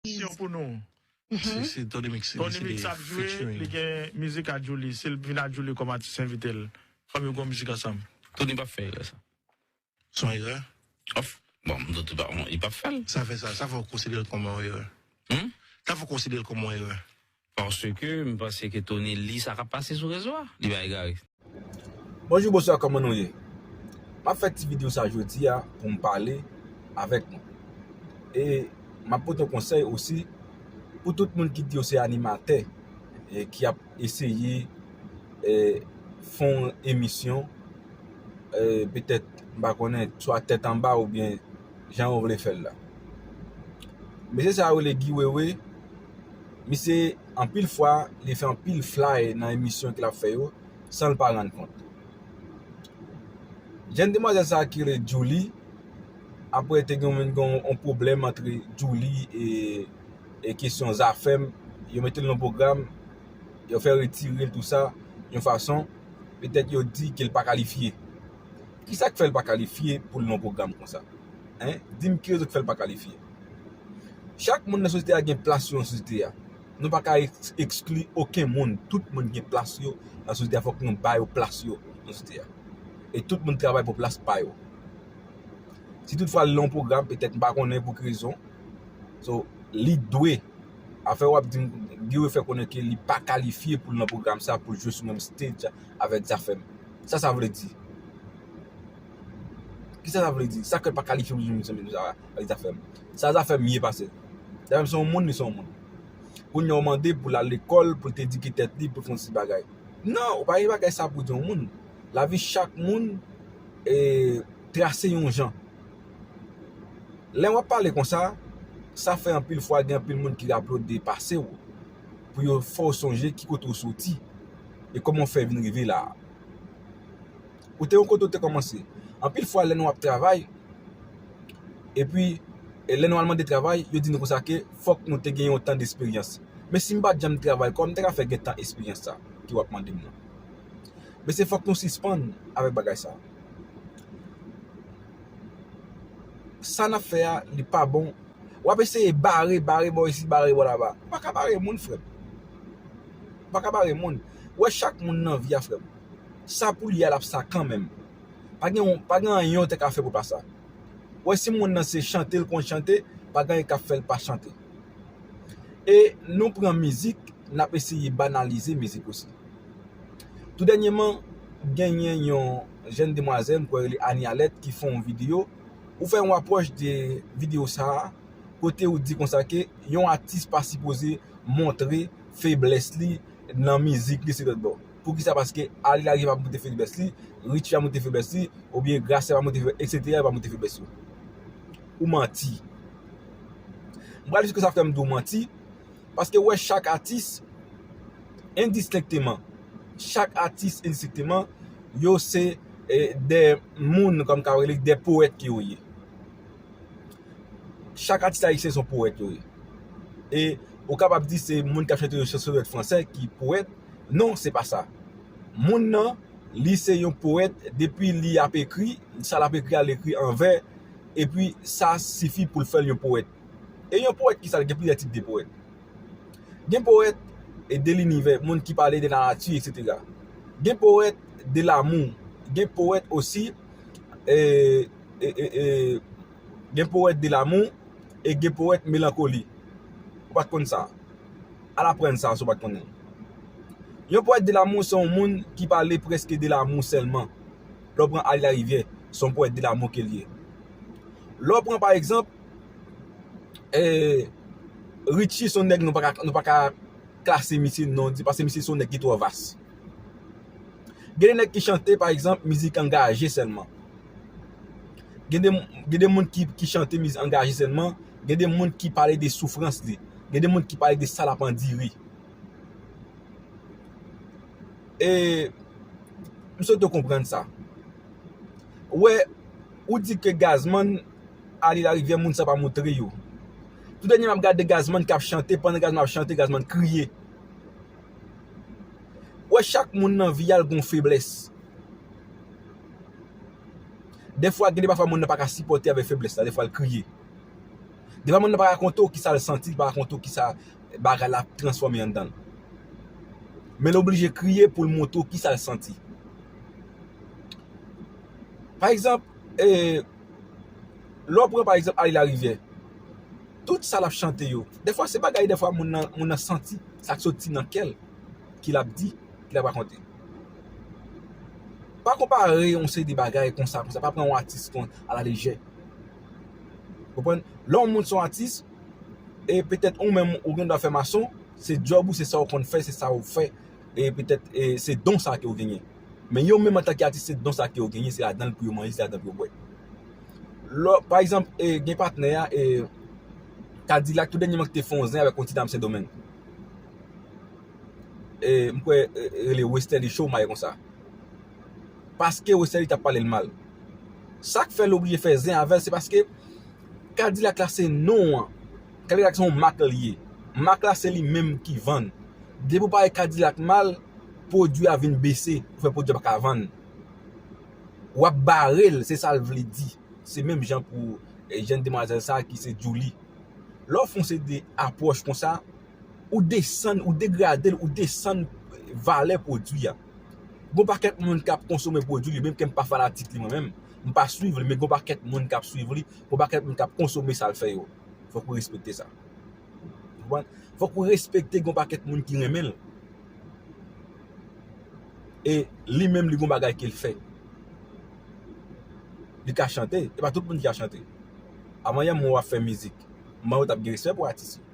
Syon pou nou. Se Tony Mix ki deside featuring. Tony Mix ap jwe, li gen mizik a Djouly. Si l vin a Djouly kòm atis envite l, fòk yo gen yon mizik ansanm. Tony pap fè erè sa. Se yon erè? Of, bon, m doute pa, bon, li pap fè l. Sa fè sa, sa fè w konsidere l kòm yon erè? Sa fè w konsidere l kòm yon erè? Paske m panse ke Tony li sa kap pase sou rezo a. Li pa egare. Bonjou bonswa kòman nou ye map fè ti video sa jodia poum pale avèk nou e map pote yon konsèy osi pou tout moun ki di yo se animatè e ki ap eseye fè yon emisyon petèt mpa konnen swa tèt anba oubyen jan yo vle fèl la mesye sa yo rele Guy Wewe Misye anpil fwa li fè anpil flay nan emisyon ke lap fè yo san l pa rann kont. Jèn demwazèl sa ki rele Djouly, apre te gen yon pwoblèm antre Djouly e kesyon Zafèm, yo mete l nan yon pwogram, yo fè retire l tou sa, yon fason, petèt yo di ke l pa kalifye. Kisa k fè l pa kalifye pou l nan yon pwogram konsa? Di m ki rezon ki fè l pa kalifye? Chak moun nan sosyete a gen plas yo nan sosyete a. Nou pa ka ekskli oken moun. Tout moun gen plas yo nan sosyete a. Fòk nou ba yo plas yo nan sosyete a. E tout moun travay pou plas pa yo. Si tout fwa li nan yon pwogram, petèt m pa konnen pou ki rezon. So, li dwe. Afè wap di m, Guy Wewe fè konnen ke li pa kalifye pou l nan pwogram sa, pou l jwe sou menm stage avèk Zafèm. Sa sa vle di? Kisa sa vle di? Sa krèk pa kalifye pou l jwe nan pwogram sa? Sa li ta fè m? Sa zafè m ye pase l? Zafè m se yon moun, li se yon moun. Kounye a ou mande pou l al lekòl, pou l te edike tèt li, pou l fè yon seri de bagay. Non, ou pa gen bagay sa pou di yon moun. Lavi chak moun trase yon jan. Lè w ap pale konsa, sa fè anpil fwa gen anpil moun ki aplodi pase w, pou yo fè w sonje ki kote ou soti, e kòman ou fè vin rive la a. Ou te yon kote ou te kòmanse. Anpil fwa lè nou ap travay, epi lè nou al mande travay, yo di nou konsa ke fòk nou te gen yon tan desperyans. Men si m pa t janm travay, kòman m te ka fè gen tan esperyans sa ke w ap mande m nan? Mesye fòk nou sispann avèk bagay sa. Sa n ap fè a li pa bon. W ap eseye bare, bare bò isi, bare bò laba. Ou pa ka bare moun frè m. Ou pa ka bare moun. Ou wè chak moun nan vi a frè m. Sa poul ye a lap sa kanmenm. Pa gen anyen ou te ka fè pou l pa sa. Ou wè si moun nan se chante l konn chante pa gen anyen kap fè l pa chante. E nou pran mizik nap eseye banalize mizik osi. Tou dènyeman genyen yon jèn demwazèl m kwè yo rele li Annie Alerte ki fè yon video, ou fè yon apwòch de video sa kote ou di konsa ke yon atis pa sipoze montre feblès li nan mizik li se lòtbò. poukisa paske Arly la rive pa moute fèblès li, Richie pa moute fèblès li, oubyen Gracia pa moute fèblès, etc. Yo pa moute fèblès yo. Ou manti. M pral jiska sa fè m di w manti, paske ou wè chak atis endistenkteman, chak atis endistenkteman, yo se de moun kòm ka rele de powèt ke yo ye. Chak atis ayisyen se yon powèt yo ye. E ou kapab di se moun k ap chante yo se sou lèt franse ki powèt, Non se pa sa. Moun nan li se yon powèt depi li ap ekri, sa l ap ekri a l ekri an vè epi sa sifi pou l fè l yon powèt. E yon powèt ki sa l? Gen plizyè tip de powèt. Gen powèt de linivè, moun ki pale de lanati eksetera. Gen powèt de lamou, gen powèt osi e. Gen powèt de lamou e gen powèt melankoli. Ou pa t konn sa? Al aprann sa si w pa t konnen l. Yon powèt de lamou se yon moun ki pale prèske de lamou sèlman. Lè w pran Ally Larivière, se yon powèt de lamou ke l ye. Lè w pran pa egzanp, Ritchie se yon nèg nou pa ka klase misye non di paske misye se yon nèg ki twò vas. Gen de nèg ki chante pa egzanp mizik angaje sèlman. Gen de gen de moun ki ki chante mizik angaje sèlman, gen de moun ki pale de soufrans li, gen de moun ki pale de sa l ap andire. E m swete w konprann sa. Ou wè, ou di ke Gazman ale larivyè moun sa pa moutre yo. Tou dènye m ap gade Gazman k ap chante, pandan Gazman ap chante, Gazman kriye. Ou wè chak moun nan vi a l gon feblès. Dèfwa gen de pafwa moun nan pa ka sipòte avèk feblès la dèfwa l kriye. Dèfwa moun nan pa rakonte w kisa l santi, l pa rakonte w kisa bagay la ap transfòme anndan l. Men l oblije kriye pou l montre w kisa l santi. Pa egzanp, lè w pran pa egzanp Aly Larivière. tout sa lap chante yo dèfwa se bagay dèfwa moun nan moun nan santi sak soti nan kèl ki lap di ki lap rakonte pa konpare yon seri de bagay konsa konsa pa pran yon atis kon a la lejè ou konprann lè yon moun son atis e petèt ou menm ou gen dwa fè mason se djòb ou se sa ou konn fè se sa ou fè e petèt se don sa ke yo genyen. Men yo menm antanke atis se don sa ke yo genyen, se ladan l pou yo manje, se ladan l pou yo bwè. Lò, pa egzanp, gen patnè a, Kadilak tou dènyeman ki te fè yon zen avèk yon ti dam Sendomeng. M kwè li rele Westerlie Shaw, m pa ye konsa. Paske Westerlie ta pale l mal. Sa k fè l oblije fè zen avè l se paske Kadilak la se non an. Kadilak se yon mak li ye. Mak la se li menm ki vann. Depi ou pale kadilak mal, pwodwi a vin bese ou fè pwodwi a paka vann. Wap barel se sal vle di. Se menm jan pou jenn demwazèl sa ki se Djoulie. Lè w fon seri de apwòch konsa, ou desann, ou degrade l, ou desann valè pwodwi a. Gon pakèt moun kap konsome pwodwi li menm ke m pa fanatik li mwen menm, m pa swiv li men gon pakèt moun kap swiv li, gon pakèt moun kap konsome sal fè yo. Fòk ou respekte sa. Fòk ou respekte gon pakèt moun ki renmen l. E li menm li gon bagay ke l fè. Li ka chante. E pa tout moun ki ka chante. Avan yè m wè w ap fè mizik. M ban ou tap gen respè pou atis yo.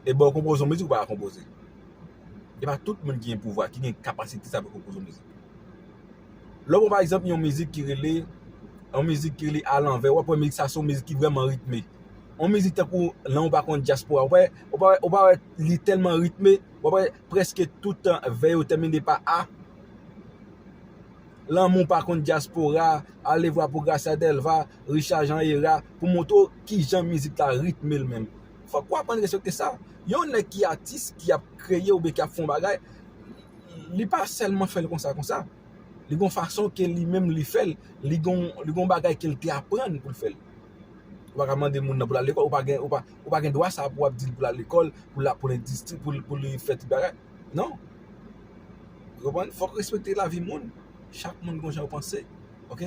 E ba w konpoze yon mizik ou pa ka konpoze. E pa tout moun ki gen pouvwa, ki gen kapasite sa pou konpoze yon mizik. Lè w pran pa egzanp yon mizik ki rele, yon mizik ki rele alanvè, w ap wè mizik sa se yon mizik ki vrèman ritme. Yon mizik tankou lè w pa konn dyaspora, w pa wè, w pa wè, w pa wè li tèlman ritme, w ap wè prèske tout vè yo tèmine pa a. Lanmou pa konn dyaspora, alevwa pou Gracia Delva, Richard Jean Héra, pou m montre w kijan mizik la ritme l menm. Fòk w aprann respekte sa. Yon nèg ki atis, ki ap kreye oubyen ki ap fè yon bagay, Li pa sèlman fèl konsa konsa, li gon fason ke li menm li fèl, li gon bagay kel te aprann poul fèl. Ou pa ka mande moun nan poul al lekòl, ou pa gen dwa sa pou wap dil poul al lekòl, poul ap poul endistri, pou li fè tout bagay. Non. Ou konprann? Fòk respekte lavi moun. Chak moun gon jan yo panse. Ok.